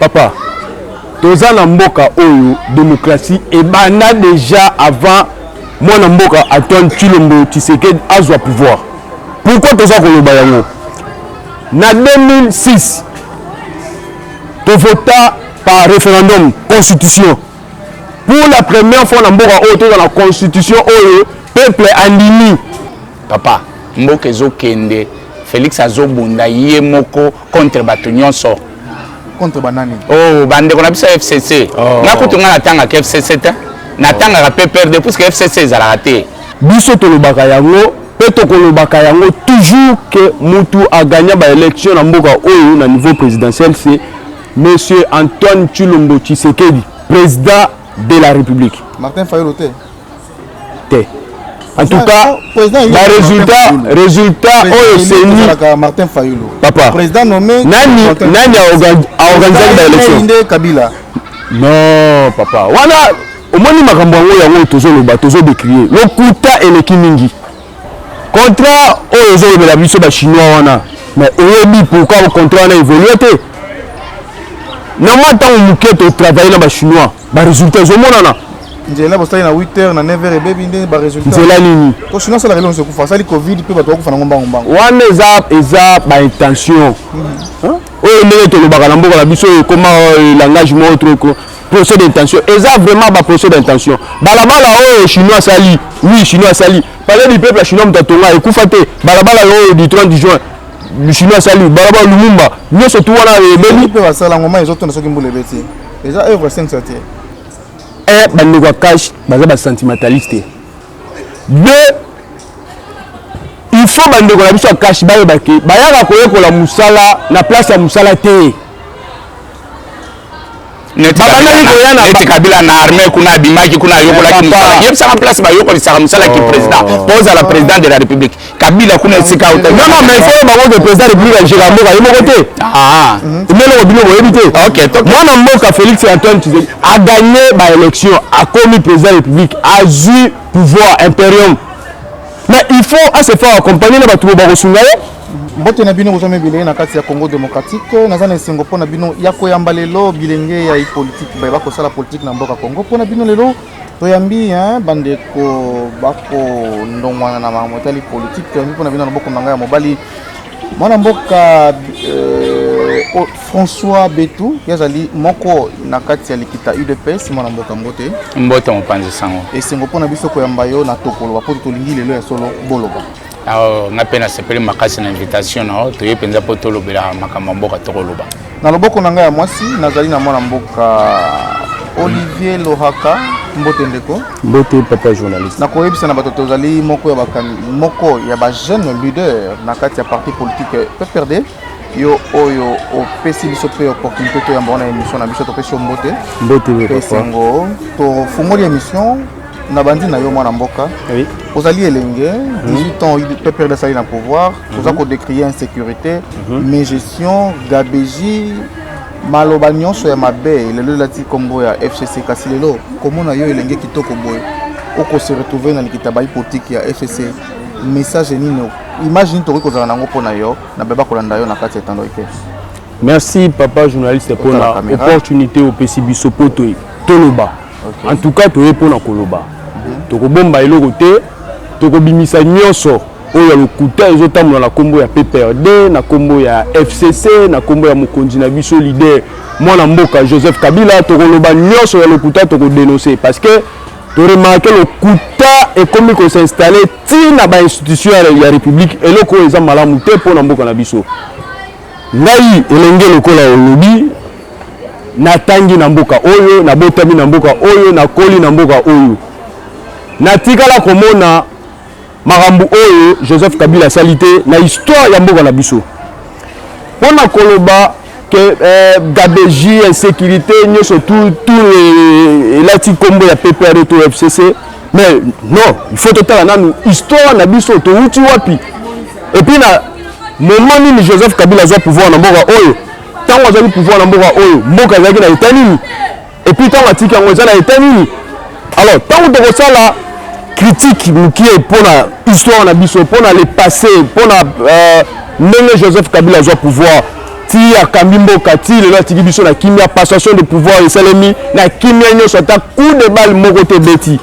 papa toza na mboka oyo demokratie ebanda déjà avant mwana mboka antoine tshilombo tshisekedi azwa pouvoir pourquoi toza koloba yango Na 2006 tovota par référendum constitution pour la première fois na mboka oyo toza na constitution oyo peuple andimi. Papa, mboka ezokende Felix azobunda ye moko contre bato nyonso contre banani oh bandeko na biso ya fcc oh. nga kutu nga natangaka fcc te natangaka pprd puiske fcc ezalaka te biso tolobaka yango Pe tokolobaka yango toujours que mutu a gagna ba elections na mboka oyo na niveau presidentiel c'est Monsieur Antoine Tshilombo Tshisekedi, President de la Republique. Martin Fayulu te. Te. En tout cas, ba résultat résultat oyo seni Martin Fayulu. Papa. Président nommé nani nani a organisé ba élections. Kabila. Non, papa. Wana Omoni makambo yango yango oyo tozoloba tozo decrie lokuta eleki mingi contrat oyo ozolobela biso ba chinois wana mais oyebi pourquoi contrat wana évolue te na mwa ntango moke totravaille na ba chinois ba résultat ezomonana nzela bosali na 8 heures na 9 heures ebebi nde ba résultat nzela nini ko chinois asala elongo sekufa asali covid mpe bato bakufa nango mbango mbango wana eza eza ba intention mhm. oyo ndenge tolobaka na mboka na biso ekoma euh, langage moko trop procès d'intention eza vraiment ba procès d'intention balabala oyo chinois asali oui chinois asali palais du peuple ya chinois moto atonga ekufa te balabala oyo du 30 juin chinois asali balabala lumumba nyonso tu wana ebeli mpe basala ngoma ezotona soki mbula ebeti eza œuvre sengsa te e bandeko ya cash baza basentimentaliste te deux il faut bandeko na biso ya cash bayebake bayaka koyekola mosala na place ya mosala te neti kabila na armée kuna abimaki kuna ayokolaki mosala yebisaka place bayokolisaka mosala ki président oh. po ozala président de la république kabila kuna esika otabango président république ajeka mboka ye moko te ah. meloko bino boyebi te mwana mboka félix antoine tshisekedi aganye baélection akomi président république azwi pouvoir imperium mais il faut asefa accompagne na bato bakosunga ye Mbote na bino kozwami bilenge na kati ya Congo demokratike. Naza na esengo mpo na bino ya koyamba lelo bilenge ya ipolitike baye bakosala politike na mboka Congo. Mpo na bino lelo toyambi bandeko bakondongwana na makambo etali politike. Toyambi mpo na bino na loboko na ngai ya mobali mwana mboka euh, oh, François Betu ye azali moko na kati ya likita UDPS mwana mboka mbote mbote mopanzi sango esengo mpo na biso koyamba yo na tokoloba mpo tolingi lelo ya solo boloba Alors, nga pe nasepeli makasi na invitation na yo toye mpenza mpo tolobela makambo ya mboka tokoloba na loboko na ngai ya mwasi nazali na mwana mboka olivier lohaka mbote ndeko mbote papa journaliste nakoyebisa na bato tozali moko ya bakani moko ya bajeune leader na kati ya parti politique pprd yo oyo opesi biso mpe opportunité toyamba wana émission na biso topesi yo mbote mbote esengo tofungoli émission na bandi na yo mwana mboka oui. ozali elenge 18 mhm. ans pprd asali na pouvoir mhm. toza kodécrie insécurité mhm. mégestion gabegie maloba nyonso ya mabe lelo elati nkombo ya fcc kasi lelo komona yo elenge kitoko boye okose retrouve na likita bayi politike ya fcc message nini image nini tokoki kozala nango mpo na yo na beba kolanda yo na kati ya etando eke merci papa journaliste mpona opportunité opesi biso mpo toloba okay. en tout cas toye mpona koloba mm -hmm. tokobomba eloko te tokobimisa nyonso oyo ya lokuta ezotambola na nkombo ya pprd na nkombo ya fcc na nkombo ya mokonzi na biso lider mwana mboka joseph kabila tokoloba nyonso ya lokuta tokodenonse parce que toremarke lokuta ekomi kosinstalle ti na bainstitution ya république eloko oyo eza malamu te mpo na mboka na biso Ngai elenge lokola olobi na tangi na mboka oyo na botami na mboka oyo na koli na mboka oyo na tikala komona makambo oyo Joseph Kabila asali te na histoire ya mboka na biso mpo na koloba que euh, gabegie insécurité nyoso tout tout elati nkombo ya PPRD to FCC mais non il faut totala nanu histoire na biso towuti wapi epuis na moment nini joseph kabila azwa pouvoir na mboka oyo ntango azwaki pouvoir na mboka oyo mboka ezalaki na eta nini epuis ntango atiki yango eza na eta nini alors ntango tokosala critique mokie mpo na histoire na biso mpo na le passé mpo na euh, ndenge joseph kabila azwa pouvoir ti akambi mboka ti lelo atiki biso na kimia passation de pouvoir esalemi na kimia nyonso ata coup de balle moko te ebeti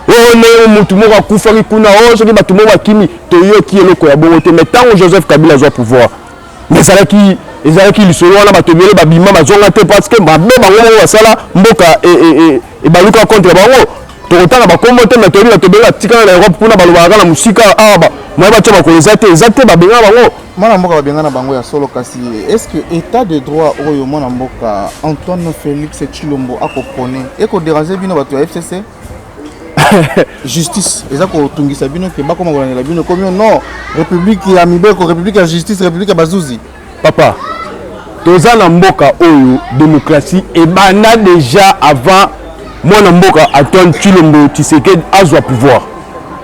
oyo ndenge motu moko akufaki kuna oyo soki bato moko bakimi toyoki eloko ya bongo te mai ntango joseph kabila azwa pouvoir mai ezalaki ezalaki lisolo wana bato ebele babima bazonga te parce que mabe bango moko basala mboka e, e, e, ebaluka contre bango tokotanga bakombo te mai toyebi bato ebele batikala na europe kuna balobaka na mosika awa ah, moye batya makolo eza te eza te babengaka bango mwana mboka babengana bango ya solo kasi est-ce que état de droit oyo mwana mboka antoine félix chilombo akopone ekoderange bino bato ya fcc justice eza kotungisa bino ke bakoma kolandela bino ekomi non république ya mibeko république ya justice république ya bazuzi papa toza na mboka oyo démocratie ebanda déjà avant mwana mboka antoine chilombo tshisekedi azwa pouvoir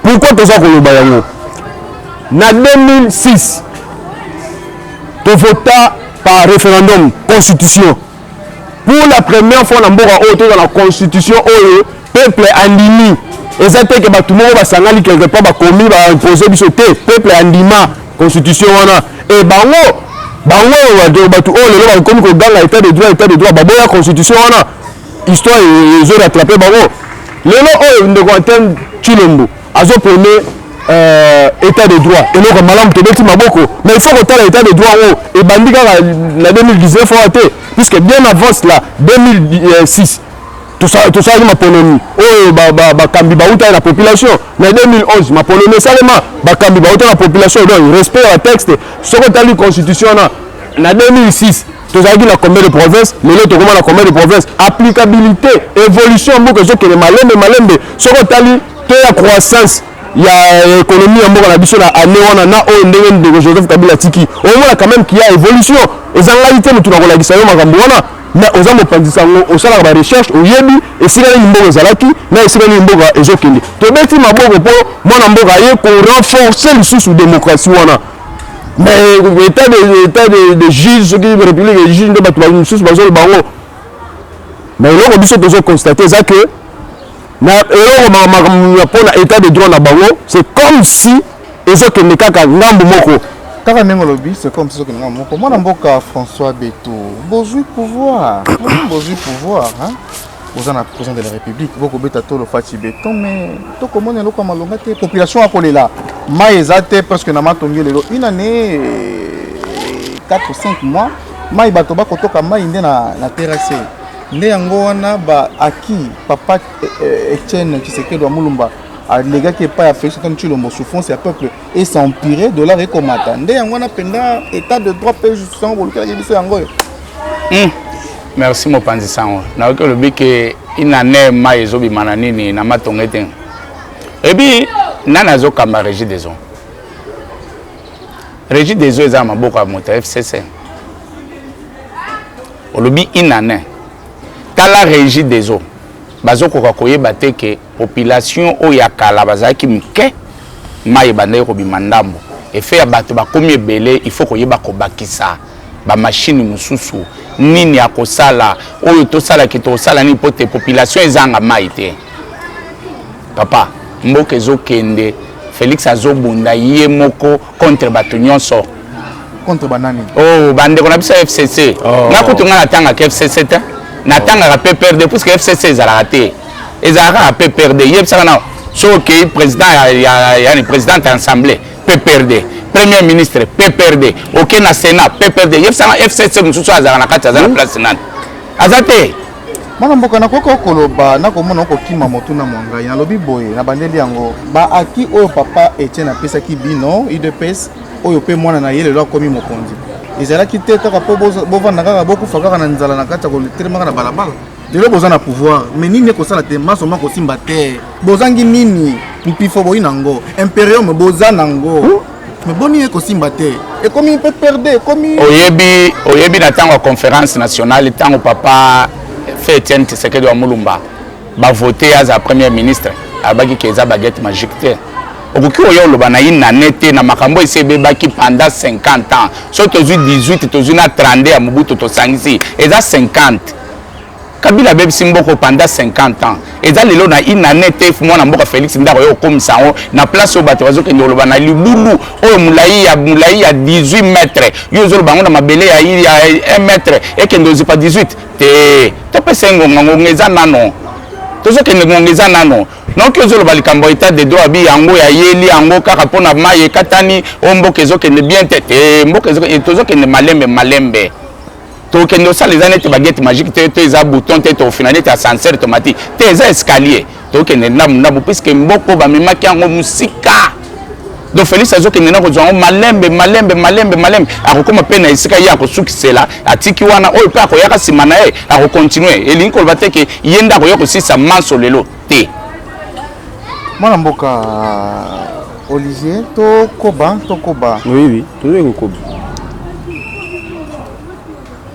pourquoi toza koloba yango Na 2006 tovota par référendum constitution pour la première fois na mboka oyo toza na constitution oyo peuple andimi eza te ke bato moko basangani quelque part bakomi baimpose biso te peuple andima constitution wana e bango bango bato oyo lelo bakomi koganga etat de droit etat de droit baboya constitution wana histoire ezo rattrape bango lelo oyo ndeko antene tshilombo azo prene euh, état de droit eloko malamu tobeti maboko mais il faut kotala état de droit oyo oh, ebandi kaka na 2019 oyo te puisque bien avant cela 2006 tosalaki maponomi oyo bakambi bautaki na population na 2011 maponomi esalema bakambi bauta na population donc respect ya texte soki otali constitution wana na 2006 tozalaki na combien de province lelo tokoma na combien de province applicabilité évolution mboka ezokende malembe malembe soki otali to ya croissance ya ekonomi ya mboka na biso na ane wana na oyo ndenge ndeko joseph kabila atiki omona quand même kia évolution ezangaki te motu na kolakisa yo makambo wana mais oza mopanzi sango osalaka barecherche oyebi esika nini mboka ezalaki na esika nini mboka ezokende tobeti maboko mpo mwana mboka aye korenforce lisusu démocratie wana mais état de, état de, de juge soki république ya juge nde bato mosusu bazoloba yango mais eloko biso tozokonstate eza que na eloko makambo mpo na etat de droit na bango c'est comme si ezokende kaka ngambo moko kaka ndenge olobi c'est comme si ezokende ngambo moko mwana mboka françois beto bozwi pouvoir bozwi pouvoir hein? boza na président de la république bokobeta tolo faci beton mais tokomona eloko ya malonga te population akolela mai eza te presque na matongi lelo une année 4 5 mois mai bato bakotoka mai nde na, na terrasse Nde yango wana ba acquis papa eh, Etienne Tshisekedi wa Mulumba alegaki epai ya Felix Antoine Tshilombo souffrance ya peuple et s'empirer dollar ekomata nde yango wana mpenza état de droit mpe justice yango bolukelaki biso yango oyo hmm. merci mopanzi sango nayoki olobi ke inane mai ezobima na nini na matonge te ebi nani azokamba régie des eaux régie des eaux eza na maboko ya moto ya fcc Olobi une annee. Tala Regideso bazokoka koyeba te ke population oyo ya kala bazalaki mike mai ebandaki kobima ndambo efe ya bato bakomi ebele il faut koyeba kobakisa bamashini mosusu nini akosala oyo tosala ke tokosala nini mpo te population ezanga mai te papa mboka ezokende felix azobunda ye moko contre bato nyonso contre banani oh bandeko na biso ya fcc oh. nga kutu nga natangaka fcc te natangaka pprd puiske fcc ezalaka te ezalaka kaka pprd yebisaka nao soki okei président yani présidente ya assemblée pprd premier ministre pprd okei na sénat pprd yebisaka fcc mosusu azalaka na kati aza na hmm. place nani aza te mwana mboka nakoki okoloba nakomona okokima motuna mwa ngai nalobi boye na bandeli yango baaki oyo papa etienne apesaki bino udps oyo mpe mwana na ye lelo akomi mokonzi ezalaki te kaka mpo bovanda kaka bokufa kaka na nzala na kati ya kotelemaka na balabala lelo boza na pouvoir me nini ekosala te maso ma kosimba te bozangi nini mpifo boyi na yango imperium boza na yango Mais boni eko simba te. Ekomi mpe perde, ekomi Oyebi oyebi na tango ya conférence nationale tango papa Fe Etienne Tshisekedi wa Mulumba ba voter aza premier ministre abaki ke eza baguette magique te. okoki oya oloba na une année te na makambo esi ebebaki pendant 50 ans soki tozwi 18 tozwi na 32 ya mobutu tosangisi eza 50 kabila abebisi mboko pendant 50 ans eza lelo na une année te mwana mboka félix ndako yo okomisa yango na place oyo bato bazokende koloba na libulu oyo molai ya molai ya 18 mètre yo ozoloba yango na mabele ya 1 mètre ekende ozipa 18 te topesa ye ngonga ngonga eza nano tozokende ngonga eza nano noki ozoloba likambo etat de droit abi yango ya yeli yango kaka mpo na mai ekatani o mboka ezokende bien te te mboka tozokende malembe malembe tokende osala eza neti bagete magique te to eza bouton te tofina neti ascenseur tomati te eza escalier tokende ndambu ndambu puiske mboko bamemaki yango mosika donc félix azokende na kozwa yango malembe malembe malembe malembe akokoma mpe na esika ye akosukisela atiki wana oyo mpe akoyaka nsima na ye akokontinue elingi koloba te ke ye nde akoya kosisa manso lelo te mwana mboka euh, olivier tokoba tokoba oui oui tozali kokoba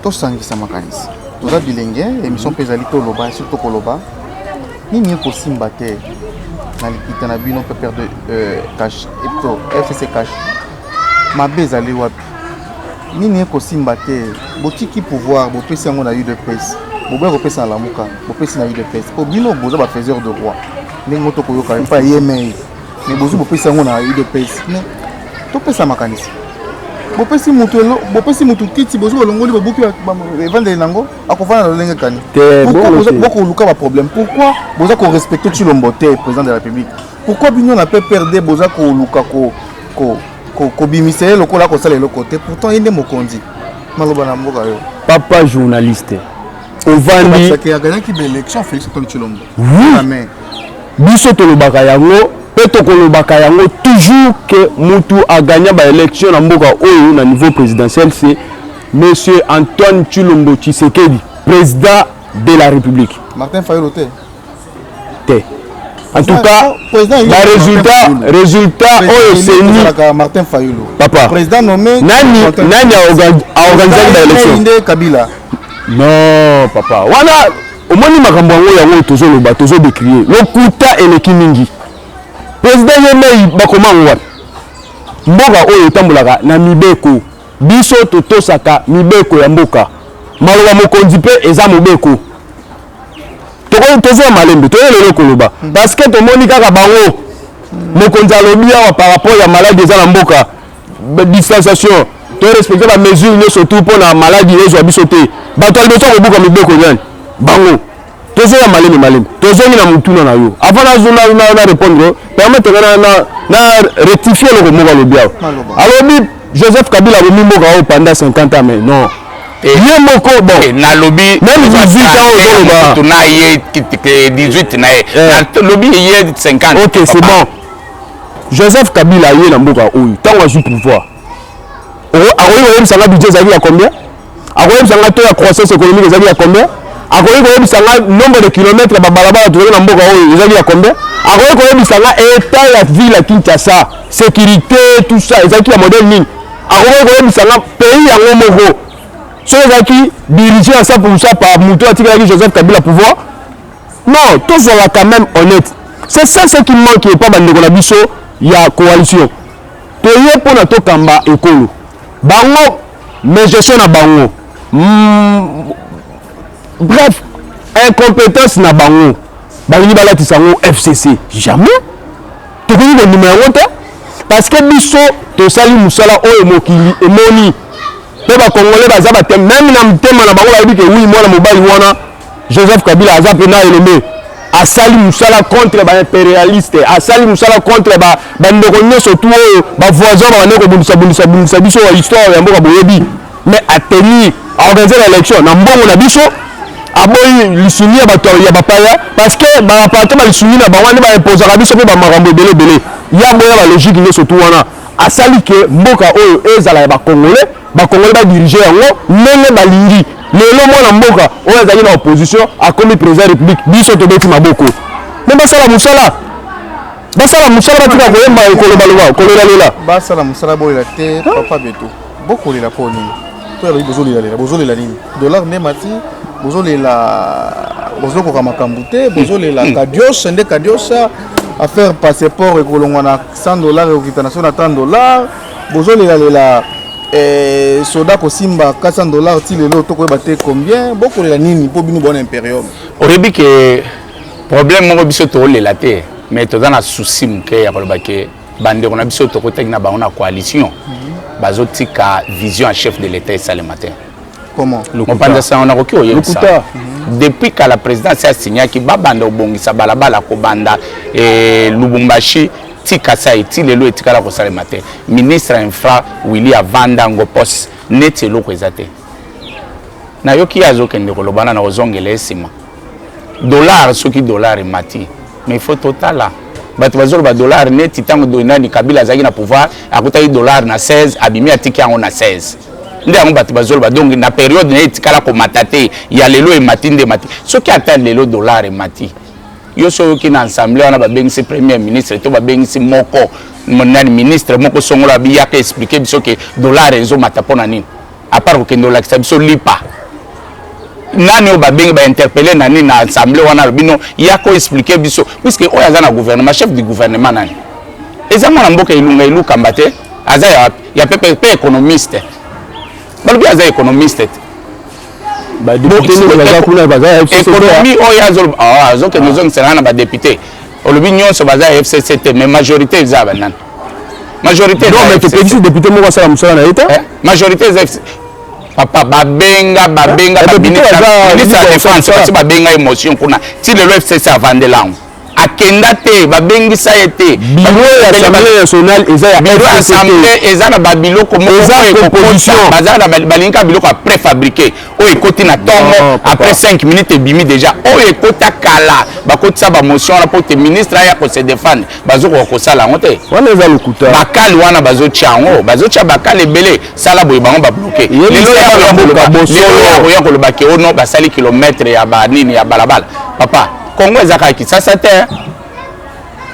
tosangisa makanisi toza bilenge émission mpe ezali toloba esi tokoloba nini ekosimba te na likita na bino pepere de euh, cash epto fcc cash mabe ezali wapi nini ekosimba te botiki pouvoir bopesi yango na udps boboya kopesa na lamuka bopesi na udps mpo bino boza bafaiseur de roi ndenge moto koyoka epa yemei me bozwi bopesi yango na udps me topesa makanisi bopesi motu bopesi motu kiti bozwi balongoli babuki evandeli nango akofanda na lolenge kani bokoluka baproblème pourquoi boza korespecte tshilombo te président de la république pourquoi bino na pprd boza koluka kobimisa ye lokola akosala eloko te pourtant ye nde mokonzi maloba na mboka yo papa journaliste ovandi biso tolobaka yango mpe tokolobaka yango toujours ke mutu agagna baélection na mboka oyo na niveau présidentiel se monsieur antoine tshilombo tshisekedi président de la république martin fayolo te te en tout cas ba résultat résultat oyo seni Martin Fayulu papa président nommé nani nani a organisé ba élection nde Kabila non papa wana omoni makambo yango yango tozoloba tozo décrier lokuta eleki mingi président ye mei bakoma yango wapi mboka oyo etambolaka na mibeko biso totosaka mibeko ya mboka maloba mokonzi mpe eza mobeko tokoki toza ya malembe toyeli eloko koloba mm. parce que tomoni kaka bango mokonzi alobi awa par rapport ya maladi eza na mboka distanciation torespecte bamesure nyonso tu mpo na maladi ezwa biso te bato ya liboso akobuka mibeko nyani bango tozoya malembe malembe tozongi na motuna na yo avant na répondre permettre na rectifie eloko moko alobi awa alobi Joseph Kabila abomi mboka oyo pendant 50 ans mais non. Eh. Ye moko bon. Eh, nalobi même 18 ans ozoloba. Tuna ye 18 na ye. Eh. Nalobi ye 50. OK, c'est bon. Joseph Kabila ye na mboka oyo tango azwi pouvoir. Oyo akoyebisa nga budget ezalaki ya combien? akoyebisa nga to ya croissance économique ezali ya combien akoki koyebisa nga nombre de kilomètre babalabala tozali na mboka oyo ezali ya combien akoki koyebisa nga etat ya ville ya kinshasa sécurité tout ça ezalaki ya modèle nini akoki koyebisa nga pays yango moko soki ezalaki dirige ya 100 pourcent par moto atikalaki joseph kabila pouvoir non tozwaka quand même honnête c'est ça ce qui manque epa bandeko na biso ya coalition toye mpona tokamba ekolo bango mais gestion na bango mm, bref incompétence na bango balingi balatisa yango fcc jamais tokoki kondima yango te parce que biso tosali mosala oyo mokili emoni mpe bakongole baza bate meme na motema na bango bayebi ke wi mwana mobali wana Joseph Kabila aza mpe na elombe asali musala contre ba imperialiste asali musala contre ba bandeko nyonso tu oyo ba voisin babandaki kobundisa bundisa bundisa biso ya histoire ya mboka boyebi mais ateni aorganize ba élection na mbongo na biso aboyi lisuni ya bato ya bapaya parce que bapate balisuni na bango nde baimposaka biso mpe bamakambo ebele ebele yango ya balogique nyonso tu wana asali ke mboka oyo ezala ya bacongolais Bakongole ba dirige yango ndenge balingi. Lelo mwana mboka oyo azali na opposition akomi president ya republique, biso tobeti maboko me basala mosala, basala mosala, batika koyemba kolobaloba kolelalela, basala mosala bolela te. Papa Beto, bokolela mpo nini? To yalobi bozolelalela, bozolela nini? Dollar nde mati, bozolela bozokoka makambo te, bozolela hmm. kadiosa nde kadiosa affaire passeport ekolongwa na 100 dollars ekokita na so na 30 dollars bozolela lela eh, soda kosimba 400 dollars ti lelo tokoyeba te combien bokolela nini mpo bino bona imperium oyebi ke problème moko biso tokolela te mais toza na souci moke ya koloba ke bandeko na biso tokotaki na bango na coalition mhm. bazotika vision ya chef de l'état esalema te mopanzi ya sango nakoki koyebisa depuis kala président asi asignaki babanda kobongisa balabala kobanda eh, lubumbashi ti kasai ti lelo etikala kosalema te ministre ya infra willi avanda ngo poste neti eloko eza te nayoki ye azokende kolobana na kozongela ye nsima dollar soki dollar emati mais faut totala bato bazoloba dollar neti ntango nani kabila azalaki na pouvoir akutaki dollar na 16 abimi atiki yango na 16 nde yango bato bazoloba donc na periode na ye etikala komata te ya lelo emati nde emati soki ata lelo dollar emati yo so oyoki na ensemble wana babengisi premier ministre to babengisi moko nani ministre moko songolo abiyaka explike biso ke dollar ezomata mpo na nini à part kokende olakisa biso lipa nani oyo babengi bainterpele na nini na assemblée wana alobi no ya ko explike biso puiske oyo aza na gouvernement chef du gouvernement nani eza mwana mboka elunga elukamba te aza ya, ya pepe mpe économiste balobi aza économiste te ekonomi oyo azokende ozongisela na badepute olobi nyonso baza ya fcc te mais majorité eza ya banani majorité non mais topekisi député moko asala mosala na ye te eh, majorité eza papa babenga babenga eh, ministre ya défense basi babenga émotion kuna ti lelo fcc avandela yango akenda te babengisa ye te biro ya assemblée nationale eza ya biro assemblée eza na babiloko moko baza na balingi kaka biloko ya préfabriqué oyo ekoti na ntongo après 5 minutes ebimi déjà oyo ekota kala bakotisa bamotion wana mpo te ministre aya kose defendre bazokoka kosala yango te wana eza lokuta bakali wana bazotya yango bazotya bakali ebele sala boye bango babloke lelo yakoya koloba ke ono basali kilometre ya banini ya balabala papa kongo eza kaka kisasa te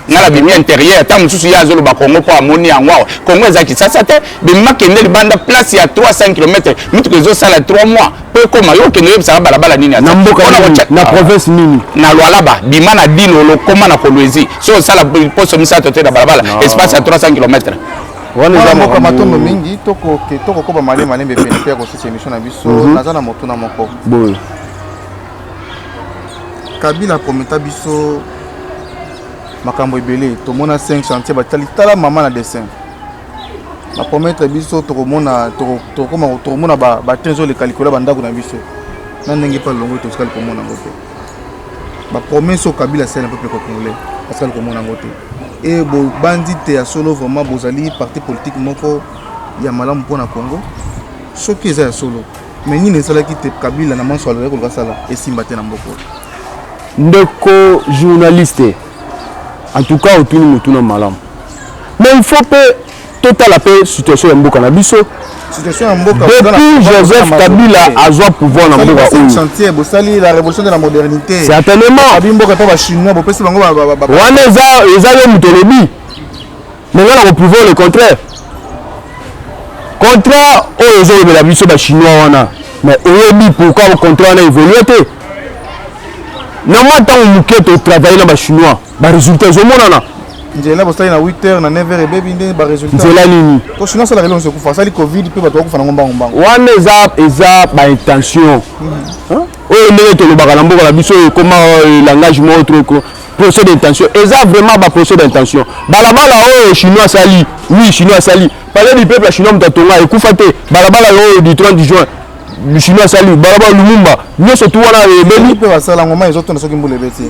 nga na bimi interieur ntango mosusu ye azoloba kongo mpo amoni yango awa kongo eza kisasa te bimima kende libanda place ya 300 km mituka ezosala 3 mois mpo ekoma yo okende oyebisaka balabala nini na mboka na province nini na lwalaba bima na dilo lokoma na kolwezi so osala poso misato te na balabala espace ya 300 km wana eza mboka matondo mingi tokokoba malembe malembe pene mpe ya kosusa emission na biso mhm. naza na motuna moko boye kabila prometa biso makambo ebele tomona 5 chantier batali tala mama na dessin bapromettre biso tokomona tokoma tokomona batrain ezoleka likolo ya bandako na biso na ndenge mpe longo totikali komona yango te bapromese oyo kabila asali na peuple congolais atikali komona yango te e bobanzi te ya solo vraiment bozali parti politique moko ya malamu mpo na congo soki eza ya solo Mais nini esalaki te Kabila na manso alobaki koluka sala esimba te na mboka oyo? Ndeko journaliste, en tout cas otuni motuna malamu. Mais il faut pe totala pe situation ya mboka na biso. Situation ya mboka depuis Joseph Kabila azwa pouvoir na mboka oyo. Chantier bosali la révolution de la modernité. Certainement. Abi mboka pa ba chinois bopesi bango ba ba ba. Wana eza eza yo motolobi. Mais nga na ko prouver le contraire. Contrat oyo ozo lobela biso ba chinois wana mais oyebi pourquoi le contrat wana évoluer te. Na mwa ntango moke to travailler na ba chinois ba résultats ezo monana. nzela bosali na 8 heures na 9 heures ebebi nde ba résultats. Nzela nini? Ko chinois sala kelongo se kufa asali covid pe bato bakufa na ngomba ngomba. Wana eza eza ba intention. Mm -hmm. Oyo ndenge tolobaka na mboka na biso ekoma euh, langage moko trop procès d'intention eza vraiment ba procès d'intention balabala oyo chinois asali oui chinois asali palais du peuple ya chinois moto atonga ekufa te balabala oyo du 30 juin chinois asali balabala lumumba nyonso tu wana ebeli mpe basala yango mai ezotonda soki mbula ebeti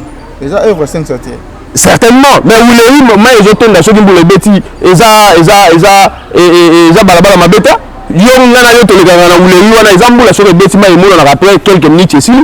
eza œuvre sengsa te certainement mais wulei mai ezotonda soki mbula ebeti eza eza eza e, e, e, eza balabala mabeta yo ngai na yo tolekaka na wulei wana eza mbula soki ebeti mai emonanaka après quelques minutes esili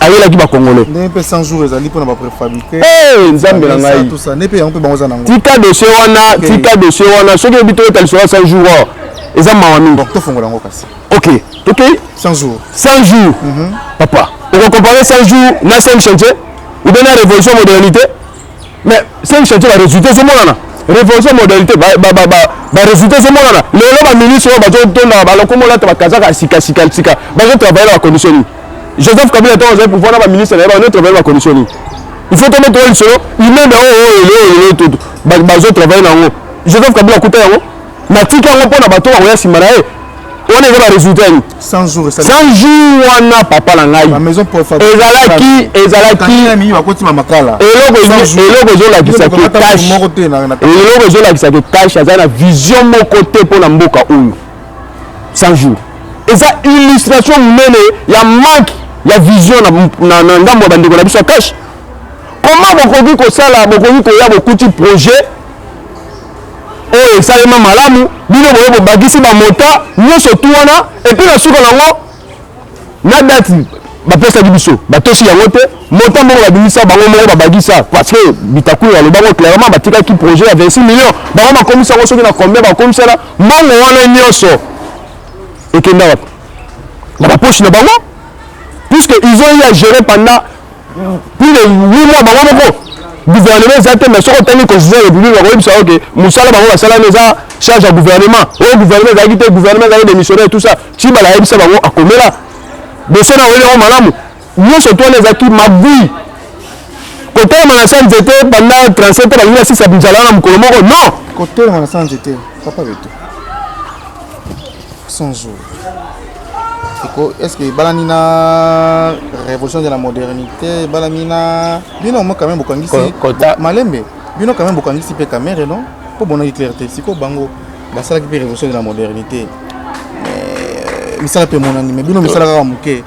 ayelaki bakongole tika dosie wana tika dosie wana soki oyebi to eta lisolo ya 100 jour or eza mawa mingi ok tokei 100 jour 100 jour mhm. papa okocompare 100 jour na 5 chantier ou bien na révolution modernité mais cinq chantier ba résultat ezomonana révolution modalité ba ba ba ba résultat ezomonana lelo ba ministre oyo bazotondaka balokomi olata bakazaka ya sika sika sika bazotravaille na bacondition nini joseph kabila ntango azali pouvoir na baministre na ye bazotravaille na bacondition nini il faut tombe toya lisolo imeme oyo oyo lelo oyo lelo bazotravaille na yango joseph kabila akuta yango natiki yango mpo na bato bakoya nsima na ye wana eza baresultat nini 100 jours wana papa na ngai ezalaki ezalaki eloko ezolakisa ke tash eloko ezolakisa ke tash aza na vision moko te mpo na mboka oyo 100 jours eza illustration monene ya manque ya vision na ndambo ya bandeko na biso ya cash comment bokoki kosala bokoki koya bokuti projet oyo esalema malamu bino boye bobakisi bamota nyonso tu wana epuis na suka nango na dati bapesaki biso batosi yango te mota moko babimisa bango moko babakisa parce que bitakulu aloba ngo clairement batikaki projet ya 26 million bango bakomisi yango soki na combien bakomisana mbongo wana nyonso ekenda wapi na baposi na bango puisque ils ont eu à gérer pendant plus de 8 mois bango moko gouvernement eza te mais soki otangi constitution ya république bakoyebisa yo ke mosala bango basalani eza charge ya gouvernement oyo gouvernement ezalaki te gouvernement ezalaki démissionnaire tout ça tibala ayebisa bango akomela boso na oyeli yango malamu nyonso to wana ezalaki magui kotelema na sa nzete banda 37 balingi basisa binzala na mokolo moko non kotelema na sa nzete papa beto 100 jours eko est ce que ebalani na révolution de la modernité ebalani na bino mo quand même bokangisi malembe bino quand même bokangisi mpe kamere non mpo bonaki claire te sikoyo bango basalaki mpe révolution de la modernité euh, misala mpe emonani mais bino misala kaka moke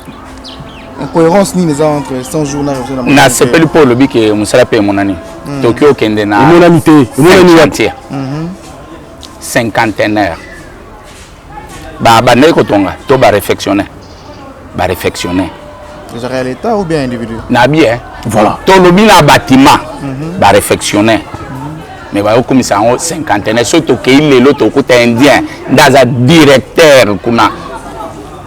incohérence nini eza entre 100 jours na révolution de la modernité nasepeli mpo olobi ke mosala mpe emonani hmm. toki okende na emonani te emonani ya te cinquantenaire babandaki kotonga to barefectionne barefectionne ezalaka ya leta ou bien individu na bien voilà tolobi na bâtiment mhm. barefectionne me bayokomisa yango cinquantenaire soki tokei lelo tokuta indien nde aza directeur kuna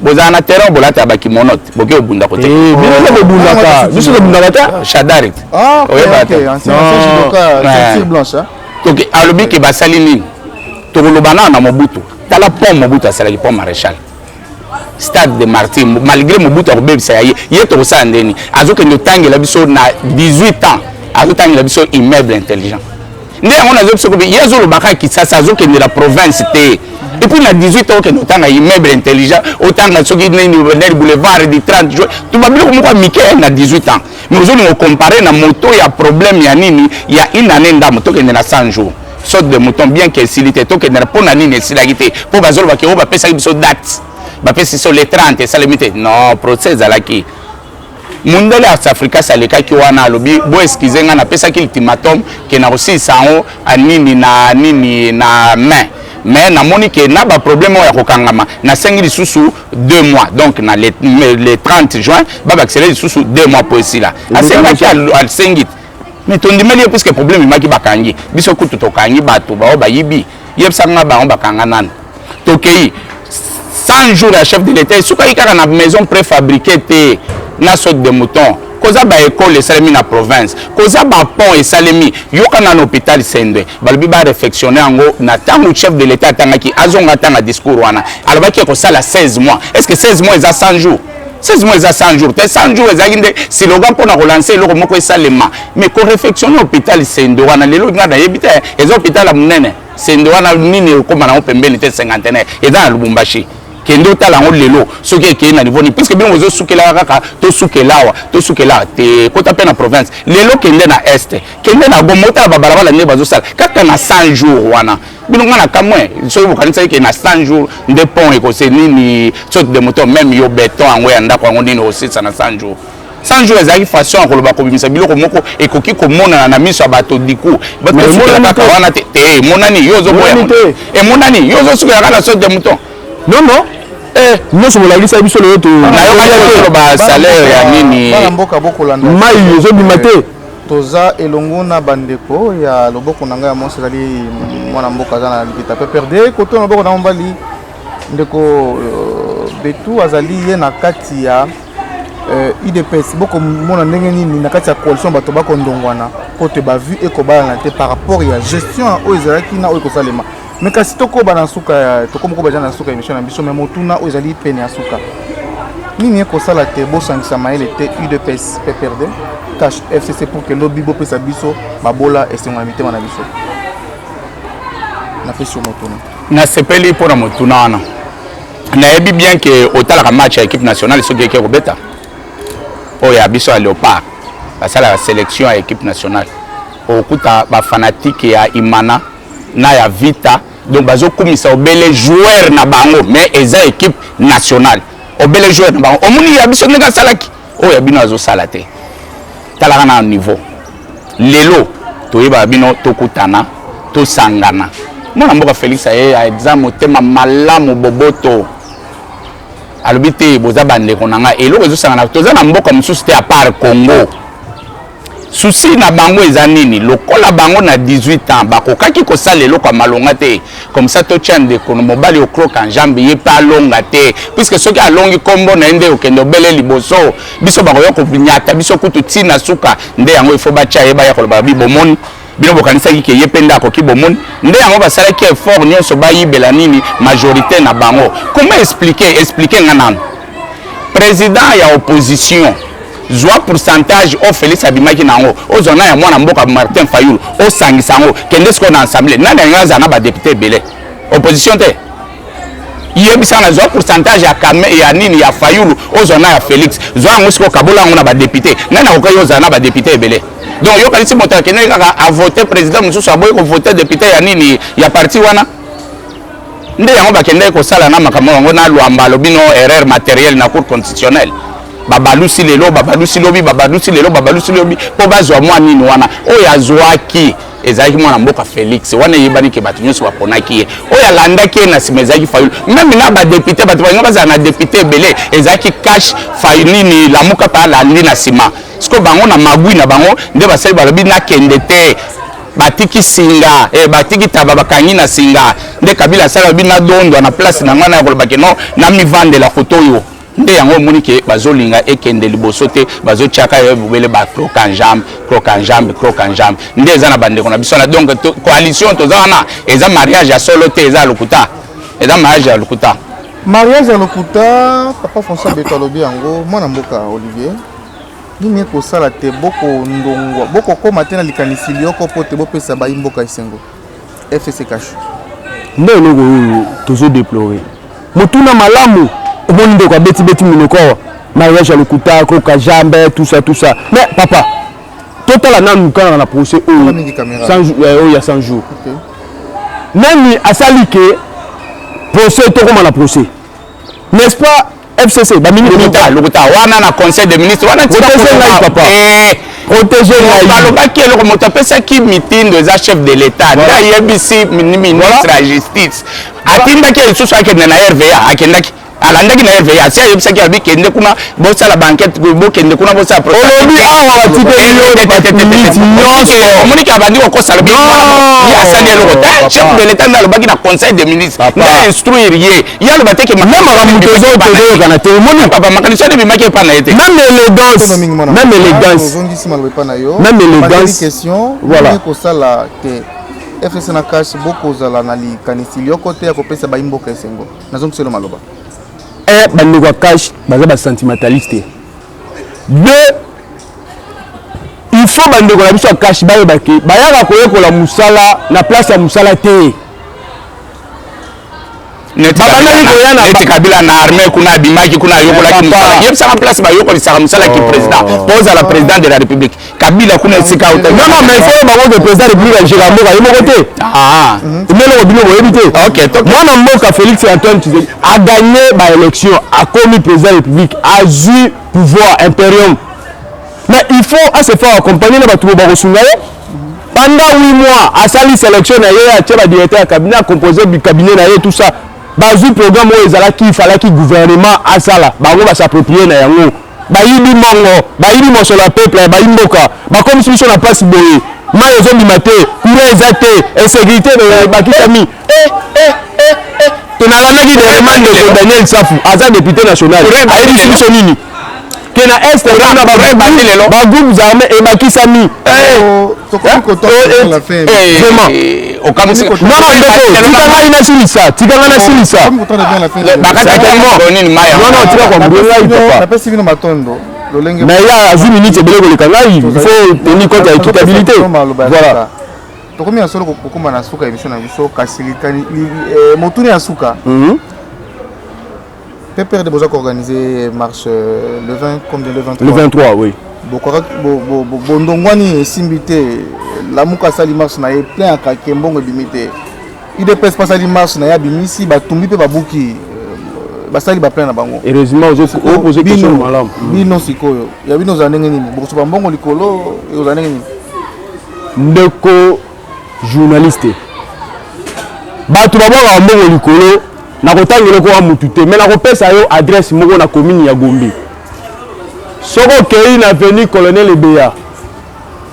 bozala na terrain bolata ba kimonote boke obunda kote eh, bino nde bobundaka ah, biso tobundaka ta ah, shadarit ah, oyeba te toke alobi ke basali nini tokoloba nao na mobutu tala pont mobutu asalaki pont maréchal stade de martyr malgré mobutu akobebisa ya ye ye tokosala ndeni azokende otangela biso na 18 ans azotangela biso immeuble intelligent nde yango nazo biso kobe ye azoloba kaka kisasa azokende na province te epuis na 18 okende otanga immeuble intelligent otanga soki nini nani boulevard du 30 juin tuba biloko moko ya mike na 18 ans mais ozolinga ocompare na moto ya problème ya nini ya une année ndambo tokende na 100 jours sorte de mouton bien que esili te tokende na mpo na nini esilaki te mpo bazolobaki oyo bapesaki biso date bapesi biso le 30 esalemi te non procès ezalaki mundele ya safricas alekaki wana alobi bo excuse ngai napesaki ultimatum ke nakosilisa yango ah, nini na nini na main mais namoni ke na baproblème oyo ya kokangama nasengi lisusu deux mois donc na le, le 30 juin babakisela lisusu deux mois mpo esila asengaki asengi mais tondimeli ye puiske problème emaki bakangi biso kutu tokangi bato baoyo bayibi yebisa nga bango bakanga nani tokei 100 jours ya chef de l'état esukaki kaka na maison préfabriquée te na saute de mouton koza baekole esalemi na province koza bapont esalemi yoka na na hôpital sendwe balobi barefectionne yango na ntango chef de l'état atangaki azonga atanga discours wana alobaki ekosala 16 mois est ce que 16 mois eza 100 jours 16 mois eza 100 jours te 100 jours ezalaki nde siloga mpo na kolansa eloko moko esalema mais korefectionne hôpital sende wana lelo ngai nayebi te eza hôpital ya monene sende wana nini ekóma nango pembeni te cinquantenaire eza na lubumbashi kende otala yango lelo soki ekei na niveau nini puiske bino bozosukelaka kaka tosukelawa tosukelawa te kota mpe na province lelo kende na est kende na goma otala babalabala ndenge bazosala kaka na 100 jours wana bino nga na kamwe soki bokanisaki ke na 100 jours nde pont ekose nini soki de moto meme yo beton yango ya ndako yango nini osisa na 100 jours 100 jours ezalaki façon ya koloba kobimisa biloko moko ekoki komonana na miso ya bato diku kaka wana te te eh, emonani yo ozoboya emonani eh, yo ozosukelaka na soki de moto non non eh, nyonso bolakisa biso lelo toyokaki koloba salaire ya nini mai ezobima te Toza elongo na bandeko ya loboko na ngai ya mwasi ezali mwana mboka aza na likita PPRD, koto na loboko na mobali ndeko euh, Betu azali ye na kati ya udps euh, bokomona ndenge nini na kati ya coalition bato bakondongwana mpo te bavue ekobalana te par rapport ya gestion oyo ezalaki na oyo ekosalema me kasi tokoba na nsuka tokomi koba eza na nsuka emission na biso me motuna oyo ezali pene ya nsuka nini ekosala te bosangisa mayele te udps pprd cash fcc pour ke lobi bopesa biso babola esengo na mitema na biso napesi yo motuna nasepeli mpo na motuna wana nayebi bien ke otalaka match ya équipe nationale soki eke kobeta oyo ya biso ya léopard basalaka sélection ya équipe nationale okuta bafanatike ya imana na ya vita donc bazokumisa obele joueur na bango mais eza équipe nationale obele joueur na bango omoni ya biso ndenge asalaki oyo ya bino azosala te talaka na niveau lelo toyebaka bino tokutana tosangana mwana mboka félix aye aza motema malamu boboto alobi te boza bandeko na ngai eloko ezosangana toza na mboka mosusu te apart congo susi na bango eza nini lokola bango na 18 ans bakokaki kosala eloko ya malonga te comme ça totya ndeko mobali okroka njambe ye mpe alonga te puiske soki alongi nkombo na ye nde okende obele liboso biso bakoya konyata biso kutu ntina suka nde yango ifo batya ye baya koloba bi bomoni bino bokanisaki ke ye mpe nde akoki bomoni nde yango basalaki effort nyonso bayibela nini majorité na bango comment explique explique nga nano président ya opposition zwa pourcentage oyo félix abimaki na yango ozwa na ya mwana mboka martin fayulu osangisa yango kende sikoyo na assemblée nani alingi azala na badepute ebele opposition te yebisa na zwa pourcentage ya kame ya nini ya fayulu ozwa na ya félix zwa yango sikoyo kabola yango na badepute nani akokai ozala na badepute ebele donc yokanisi moto akendeki kaka avote président mosusu aboyi kovote depute ya nini ya parti wana nde yango bakendeki kosala na makambo yango na lwamba alobi no erreur matériel na cour constitutionnelle babalusi lelo babalusi lobi babalusi lelo babalusi lobi mpo bazwa mwa nini wana oyo azwaki ezalaki mwana mboka Felix wana eyebani ke bato nyonso baponaki ye oyo alandaki ye na nsima ezalaki Fayulu meme na badepute bato balinga bazala na depute ebele ezalaki cash fayu nini lamuka mpe alandi na nsima sikoyo bango na magui na bango nde basali balobi nakende te batiki singa eh, batiki taba bakangi na singa nde kabila asala lobi nadondwa na place na ngai na ya kolobake no namivandela koto oyo nde yango omoni ke bazolinga ekende liboso te bazotiaka yo bobele ba croque en jambe croque en jambe croque en jambe nde eza na bandeko na biso wana donc to, coalition toza wana eza mariage ya solo te eza ya lokuta eza mariage ya lokuta mariage ya lokuta papa françois beto alobi yango mwana mboka olivier nini ekosala te bokondongwa bokokóma te na likanisi lyoko mpo te bopesa bayi mboka esengo FCC cash. Nde eloko oyo tozo déplorer. Motuna malamu omoni ndeko abeti beti minoko awa mariage ya lokuta koka jambe tout ça tout ça mais papa totala nanu kaka na procès oyo euh, oyo ya 100 jours nani asali ke procès tokoma na procès n'est-ce pas fcc ba minute lokuta lokuta wana na conseil de ministre wana protège ngai papa eh, protège ngai balobaki eloko moto apesaki mitindo eza chef de l'état nda ayebisi ministre ya justice atindaki lisusu akende na rva akendaki alandaki na rva asi ayebisaki abi kende kuna bosala bankete bokende kuna bosala olobi awa batikeyominiti nyonso omoniki abandi kokosa lobi asali eloko te chef de l'état nde alobaki na conseil de ministre nda instruire ye ya loba te ke meme makambo tozo tozoyokana te omoni papa makanisi wana ebimaki epai na ye te meme élégance meme élégance ozongisi maloba epai na yo meme élégance question voilà kosala te fs na cash bokozala na likanisi lyoko te ya kopesa bayimboka esengo nazongiselo maloba e bandeko ya cash baza basentimentaliste te deux il faut bandeko na biso ya cash bayebake bayaka koyekola mosala na place ya mosala te neti kabila na armée kuna abimaki kuna ayokolaki mosala yebisaka place bayokolisaka mosala ki président oh. po ozala président de la république kabila kuna esika otaimaifoyo bango ke président république ajeka mboka ye moko te ah. meloko bino boyebi te mwana mboka félix antoine tshisekedi aganye baélection akomi président république azwi pouvoir imperium mais il faut asefa accompagne na bato bakosunga ye Pendant 8 mois, asali selection na ye, atie ba directeur ya cabinet, a composer bi cabinet na ye tout ça. Bazui programme oyo ezalaki il fallaki gouvernement asala, bango ba s'approprier na yango. Bayibi mbongo, bayibi mosolo ya peuple, bayi mboka, bakomisi biso na pasi boye. Mayi ezobima te, courant eza te, insecurite ebakisami. eh, eh, eh, eh. tonalandaki nerema ndeko daniel safu aza depute national ayebisi biso nini ke na est kuna bagroupe armé ebakisami tikangai nasilisa tikanga nasilisa bakatakimonapesi bino matondo mais ya azwi minute ebele koleka ngai il faut tenir compte ya équitabilité voilà tokomi ya solo kokoma na suka ya emission na biso kasi likani eh, motuna ya suka mhm. PPRD boza koorganize marche euh, le 20 comme le 23 le 23 oui bondongwani esimbi te lamuka asali marche na ye plein akake mbongo ebimi te idps mpe asali marche na ye abimisi batumbi mpe babuki euh, basali baplein na bango bino sikoyo ya bino ozala ndenge nini bokosopa mbongo likolo ozala ndenge nini Ndeko journaliste, bato babwakaka mbongo likolo na kotanga eloko ya mutu te, me nakopesa yo adresse moko na commune ya Gombe. Soki okei na avenue Colonel Ebeya,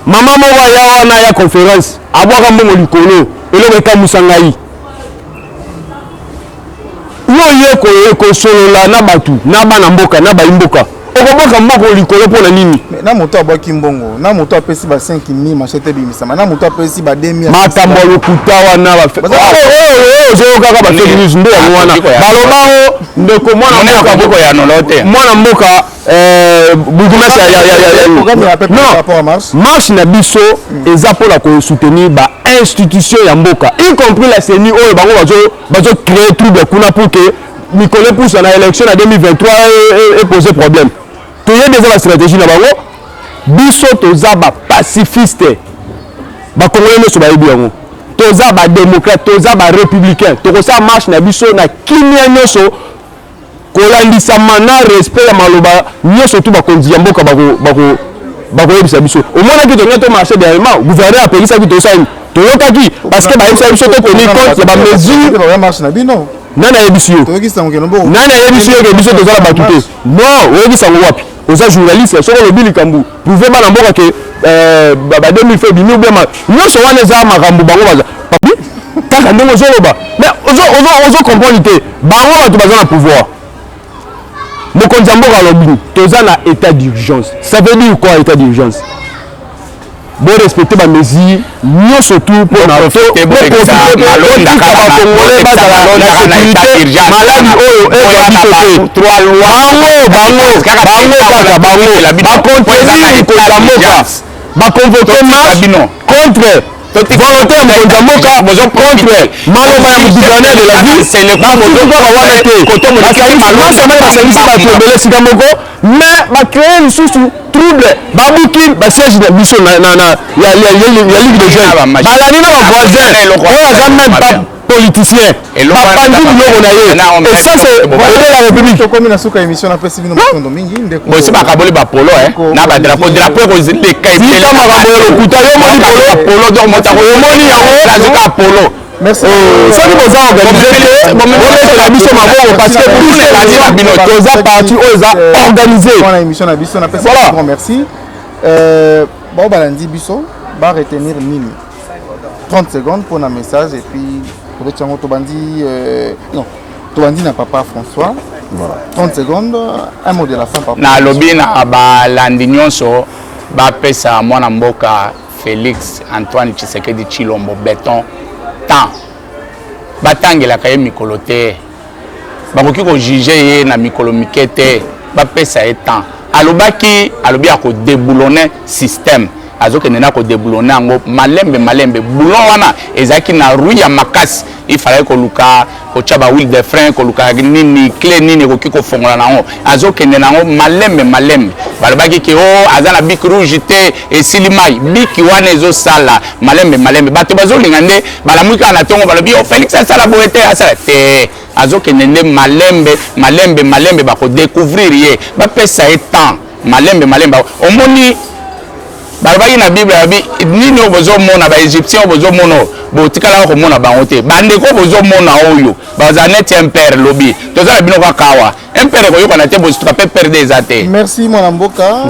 mama moko aya wana ya conference abwaka mbongo likolo, eloko ekamusa ngai. yo oye kosolola na bato na bana mboka na bayi mboka okobwaka mbongo likolo mpo na nini na moto abwaki mbongo na moto apesi ba 5000 machete ebimisama na moto apesi ba 2000 makambo ya lokuta wana ozoyokaka ba fake news nde yango wana balobango ndeko mwana mboka eh, bourgmestre marche na biso hmm. eza mpo na kosoutenir ba institution ya mboka y compris la ceni oyo bango bazo bazo créer trouble kuna pour que mikolo epusa na élection na 2023 epose problème toyebi eza bastratégie na bango biso toza bapacifiste bakongole nyonso bayebi yango toza badémocrate toza barépublicain tokosala marche na biso na kimia nyonso Kolandisama na respect ya maloba nyoso tout bakonzi ya mboka bako bako bakoyebisa biso. Omonaki tolinga to marche dernièrement, gouverneur apekisaki tosala nini? Toyokaki parce que bayebisaki biso to tenir compte ya ba mesures. Nani ayebisi yo? Nani ayebisi yo que biso toza na batu te? Non, oyebisa ngo wapi? oza journaliste soki olobi likambo prouve bana mboka ke euh, ba 2000 fe bimi obia nyonso wana eza makambo bango baza kaka ndenge ozoloba mais ozo comprendre te bango bato baza na pouvoir mokonzi ya mboka alobi toza na état d'urgence ça veut dire quoi état d'urgence bo respecter ba mesures nyonso tu mpo na bakongole bazala na sécurité maladi oyo ezwa biso te bango bango bango kaka bango bacontenir mokonzi ya mboka baconvoke marche contre volonté ya mokonzi ya mboka contre maloba ya gouverneur de la ville na kaka wana te basangisi bato ebele esika moko mais ba créer lisusu trouble babuki ba siège na biso na na na ya ya ya ligue de jeunes balani na ba voisins oyo aza même pas politicien bapandi biloko na ye et ça c'est volet la république tokomi na suka émission na pesi bino matondo mingi ndeko bosi bakaboli ba polo eh na ba drapeau drapeau ko zinde kai tika makambo ya lokuta yo moni polo polo donc motako yo moni yango azuka polo soki boza organise te bolekela biso maboko parce que biso ezali na bino toza parti oyo eza organise wana émission na biso napesa grand merci euh, bao balandi biso ba retenir nini 30 secondes mpona message et puis tobeti yango tobandi euh, non tobandi na papa françois voilà. 30 secondes un mot de la fin papa nalobi na balandi nyonso bapesa mwana mboka Felix Antoine Tshisekedi Tshilombo Beton temps batangelaka ye mikolo te bakoki kojuge ye na mikolo mike te bapesa ye temps alobaki alobi akodeboulone système azokende na kodeboulone yango malembe malembe boulon wana ezalaki na rui ya makasi il fallait koluka kotya ba huile de frein koluka nini cle nini ekoki kofongola na yango azokende na yango malembe malembe balobaki ke o oh, aza na biki rouge te esili mai biki wana ezosala malembe malembe bato bazolinga nde balamwi kaka na ntongo balobi o oh, félix asala boye te asala te azokende nde malembe malembe malembe bakodecouvrir ye bapesa ye temps malembe malembe omoni balobaki na bible babi nini oyo bozomona baegyptien oyo bozomona oyo botikalaka komona bango te bandeko oyo bozomona oyo bazala neti impere lobi toza na bino kaka awa impere koyokana te bozituka mpe perde eza te merci mwana mboka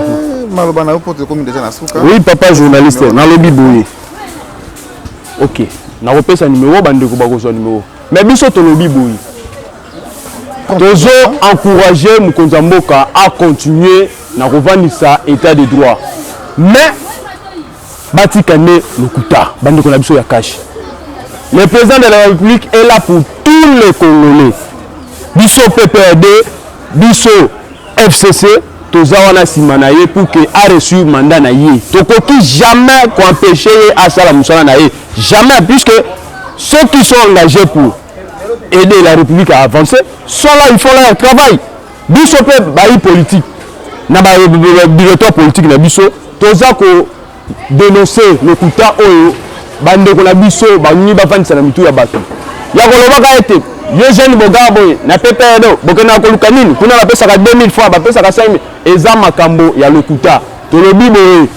maloba na yo mpo tokomi deja na suka oui papa journaliste nalobi boye ok nakopesa nimero bandeko bakozwa nimero mais biso tolobi boye tozo encourager mokonzi ya mboka a continuer na kovandisa état de droit mais batika nde lokuta bandeko na biso ya kashi le président de la république est là pour tous les congolais biso pprd biso fcc toza wana nsima na ye pour que areusir mandat na ye tokoki jamais koempêche ye asala mosala na ye jamais puisque ceux qui sont engagés pour aider la république à avancer soit là il faut là travail biso mpe bayi politique na badirecteur politique na biso toza ko denonce lokuta oyo bandeko na biso balingi bafandisa na mitu ya bato ya kolobaka ete yo jeune bogaa boye na pepedo bokendaka koluka nini kuna bapesaka 2000 fois bapesaka 5000 eza makambo ya lokuta tolobi boye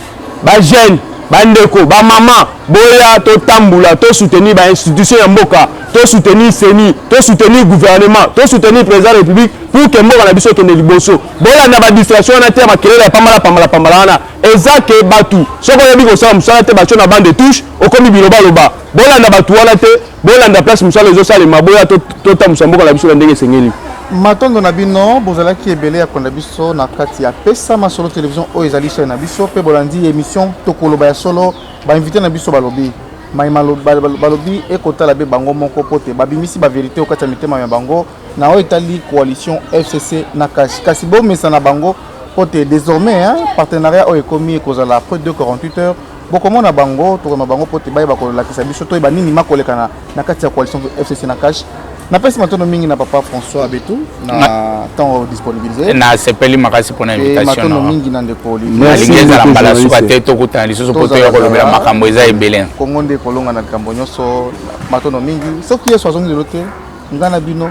ba jeune ba ndeko ba mama boya to tambula to soutenir ba institution ya mboka to soutenir CENI to soutenir gouvernement to soutenir président de république pour que mboka na biso ekende liboso bolanda ba distraction wana te ya makelele ya pambala pambala pambala wana eza ke batu soki oyebi kosala mosala te batio na bande touche okomi bilobaloba bolanda batu wana te Bolanda place mosala ezosalema, boya totambusa mboka na biso na ndenge esengeli. Matondo na bino bozalaki ebele ya kolanda biso na kati ya pesa masolo television oyo ezali chaine na biso mpe bolandi emission tokoloba ya solo bainvite na biso balobi mai balobi ekotala mpe bango moko mpo te babimisi baverité oyo kati ya mitema ya bango na oyo etali coalition fcc na kashi kasi bomesana bango mpo te désormais partenariat oyo ekomi ekozala près de 48 heures bokomona bango tokomema bango mpo te bayeba kolakisa biso toyeba nini makolekana na kati ya coalition fcc na cash napesi matondo mingi na papa françois abetu na ntango disponibilise nasepeli makasi mpona invitationmatondo mingi na ndeko nalingi ezala mbala suka te tokutana lisusu mpo toya kolobela makambo eza ebele kongo nde kolonga na likambo nyonso matondo mingi soki yesu azongi lelo te ngai na bino